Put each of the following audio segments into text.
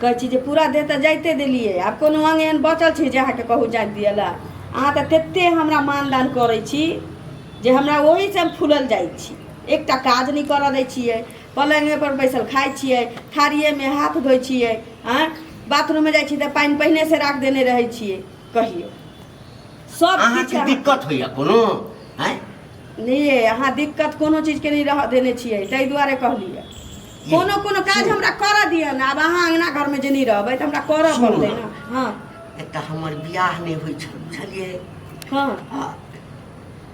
कहै छी जे पूरा देह तऽ जाइते देलियै आब कोनो अंग एहन बचल छै जे अहाँके कहू जाइत दिअ लए अहाँ तऽ ततेक हमरा मानदान करै छी जे हमरा ओहीसँ हम फूलल जाइ छी एकटा काज नहि करऽ दै छियै पलङ्गेपर बैसल खाइ छियै थारिएमे हाथ धोइ छियै आँय बाथरूममे जाइ छी तऽ पानि पहिनेसँ राख देने रहै छियै कहियौ सब अहाँके किछु अहाँ- दिक्कत होइए कोनो आँय नहि अहाँ दिक्कत कोनो चीजके नहि रहऽ देने छियै ताहि दुआरे कहलियै कोनो कोनो काज हमरा करऽ दिअ ने आब अहाँ अङ्गना घरमे जे नहि रहबै तऽ हमरा करऽ सुनू पड़तै ने। ने हँ एकटा हमर बियाह नहि होइ छल बुझलियै हँ आ,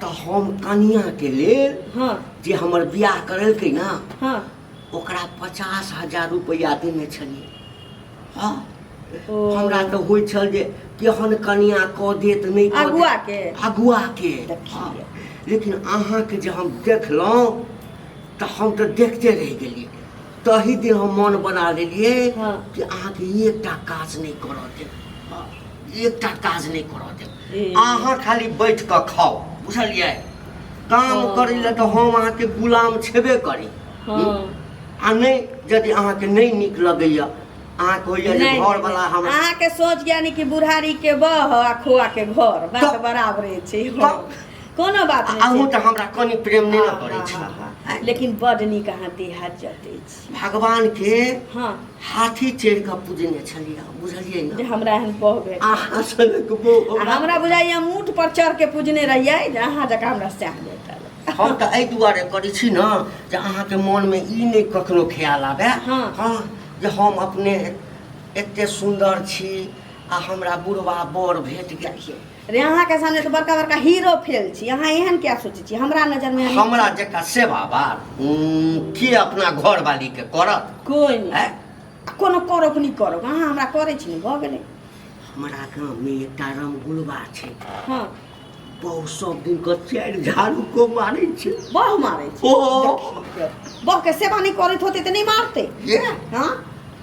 तऽ हम कनियाके लेल हँ जे हमर बियाह करेलकै ने हँ ओकरा पचास हजार रुपैआ देने छलियै हँ ओ, हमरा तऽ होइ छल जे केहन कनिया कऽ देत नहि कऽ देत। अगुआके? अगुआके देखियै। हँ। लेकिन अहाँके जे हम देखलहुँ तऽ हम तऽ देखते रहि गेलियै तही दिन हम मन बना लेलियै हँ। कि अहाँके एकटा काज नहि करऽ देब हँ, एकटा काज नहि करऽ देब ए। अहाँ खाली बैठ कऽ खाउ बुझलियै काम हँ। करै लए तऽ हम अहाँके गुलाम छेबे करी हँ आ नहि यदि अहाँके नहि नीक लगैया अहाँके होइया जे घर वाला हम अहाँ के सोच ज्ञानी की बुढ़ारी के बह आ खोआ के घर बात तब- बराबरे छै तब- कोनो बात आ- अहूँ नहि तऽ हमरा कनि प्रेम नहि ने करै छी छै लेकिन बड नीक अहाँ देहात जते छी भगवान के हाँ हाथी चढ़ि कऽ पूजने छलियै बुझलियै जे ने हमरा एहन बह भेट अहाँ सनक बो आ हमरा बुझाइए हम ऊँट पर चढ़ के पूजने रहियै जे अहाँ जकाँ हमरा सएह भेटल हम तऽ एहि दुआरे करै छी ने जे अहाँके मोनमे ई नहि कखनो ख्याल आबे हाँ। हाँ जे हम अपने एते सुन्दर छी आ हमरा बुढ़वा बर भेट गेल छै अरे अहाँके सामने तऽ बड़का बड़का हीरो फेल छी अहाँ एहन किया सोचै छी हमरा नजरमे हम- हमरा जकाँ सेवा बार के अपना घर वाली के करत कोई नहीं हैं? आ कोनो करो कि नहीं करो अहाँ हमरा करै छी ने भऽ गेलै हमरा गाँव में एकटा रमगुलबा छै हाँ बहुत सब दिन के चारि झाड़ू को मारै छै बह मारै छी ओ बहके सेवा नहि करैत होतै तऽ नहि मारतै ये हाँ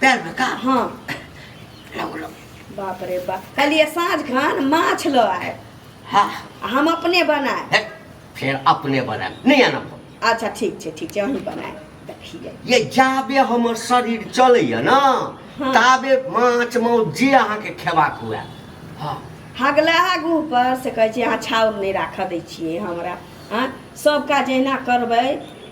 पैर में का हाँ लगो लगो बाप रे बाप कहलिए साँझ खान माछ लो आए हाँ हम अपने बनाए हे, फिर अपने बनाए नहीं आना पड़ो। अच्छा ठीक छै ठीक छै अहीं बनाए देखिए ये जाबे हमर शरीर चलैया ना हाँ। ताबे माछ मौत जे अहाँके खेबाक हुए हाँ हगला हगू पर से कहै छी अहाँ छाउर नहि राखऽ दै छियै हमरा आँय सब काज एहिना करबै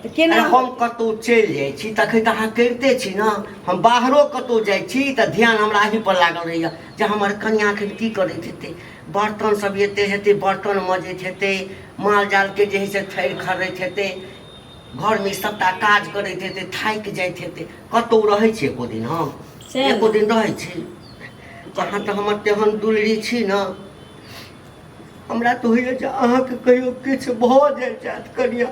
तऽ केना अरे हम कतहु चलि जाइ छी तखन तऽ अहाँ करिते छी ने हम बाहरो कतहु जाइ छी तऽ ध्यान हमरा अही पर लागल रहैया जे हमर कनिया एखन की करैत हेतै बर्तन सब एते हेतै बर्तन मजैत हेतै माल जाल के जे है से थैर खरैत हेतै घर में सबटा काज करैत हेतै थाकि जाइत हेतै कतहु रहै छी एको दिन हम सएह ने। एको दिन रहै छी अहाँ तऽ हमर तेहन दुलरी छी ने हमरा तऽ होइए जे अहाँके कहियो किछु भऽ जाइ जायत कनिया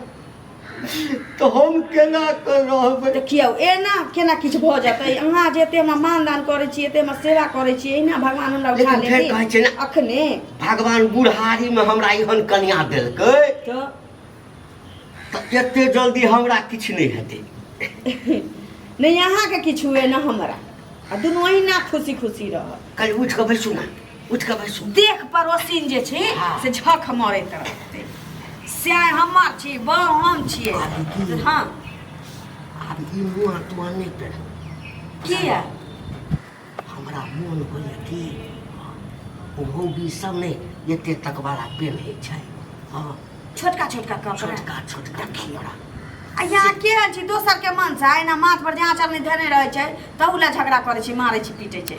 तऽ हम केना कऽ रहबै देखियौ एना केना किछु भऽ जेतै अहाँ जे एते हमरा मानदान करै छी एते हमरा सेवा करै छी एहिना भगवान हमरा उठा लेकिन फेर कहै छै लेती ने- अखने भगवान बुढ़ारीमे हमरा एहन कनिया देलकै तऽ तऽ एते जल्दी हमरा किछु नहि हेतै नहि अहाँके किछु हुए ने हमरा आ दुनू अहिना खुशी खुशी रहब कल उठि कऽ बैसू ने उठ के बैसू देख पड़ोसिन जे छी हाँ। से झक मरैत रहते से हमर छी बहु हम छियै अभी की? हाँ आब ई मुँह तुआ नहि पेड़ किया हमरा मोन होइए कि ओहो भी सब नहि एते तक वाला पेन होइ छै हँ छोटका छोटका कपड़ा छोटका छोटका खियौड़ा आ यहाँ के रहै छी दोसर के मन से एना माथ पर जहाँ चलनी धने रहै छै तहू ला झगड़ा करै छी मारै छी पीटै छै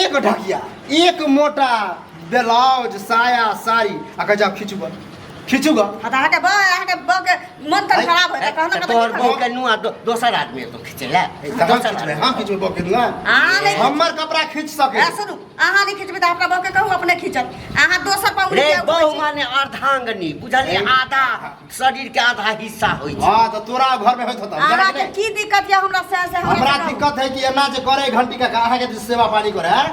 एक ढकिया एक मोटा ब्लाउज साया साड़ी आ कह जाओ खींचू गा खींचू गा आ तऽ अहाँके बा अहाँके बा के मन तऽ खराब होय तऽ कहना तऽ तोहर बहू के नुआ दो- दोसर आदमी तो खींचे ला हम दोसर खींचबै आदमी। हम खींचबै बा के नुआ अहाँ नहि हमर कपड़ा खींच सके ए, सुनू अहाँ नहि खींचबै तऽ अपना बा के कहू अपने खींचत अहाँ दोसर पर रे उड़ि जाउ बहू माने अर्धांगनी बुझलिए आधा शरीर के आधा हिस्सा होइ छै हां त तोरा घर में होत होत हमरा के की दिक्कत या हमरा से से हमरा दिक्कत है कि एना जे करे घंटी का कहा के सेवा पानी करे है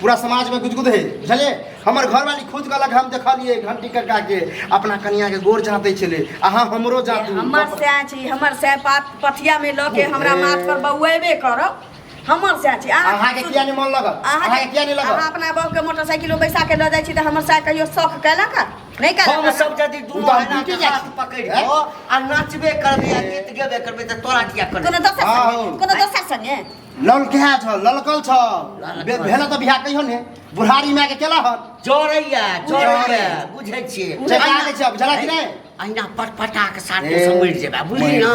पूरा समाज में गुजगुद है बुझलिए हमर घर वाली खुद कहलक हम देखलिए घंटी कका के अपना कनिया के गोर जाते छले अहा हमरो जातू हमर से छी हमर से पात पथिया में ल के हमरा माथ पर बउएबे करब हमर से छी अहा के किया ने मन लगल अहा के किया ने लगल अहा अपना बाप के मोटरसाइकिल बैसा के ल जाय छी त हमर से कहियो शौक कैलक नहीं कर हम सब जदी दुनो है ना के हाथ पकड़ के आ नाचबे करबे आ गीत गेबे करबे त तोरा किया करबे कोनो दोसर संगे कोनो दोसर संगे लल के है छ ललकल छ भेला त बिहा कहियो ने बुढ़ारी में के केला हन जोरैया जोरैया बुझै छी चका दे छ बुझला कि नै अहिना पटपटा के साथ समझ जेबा बुझली ना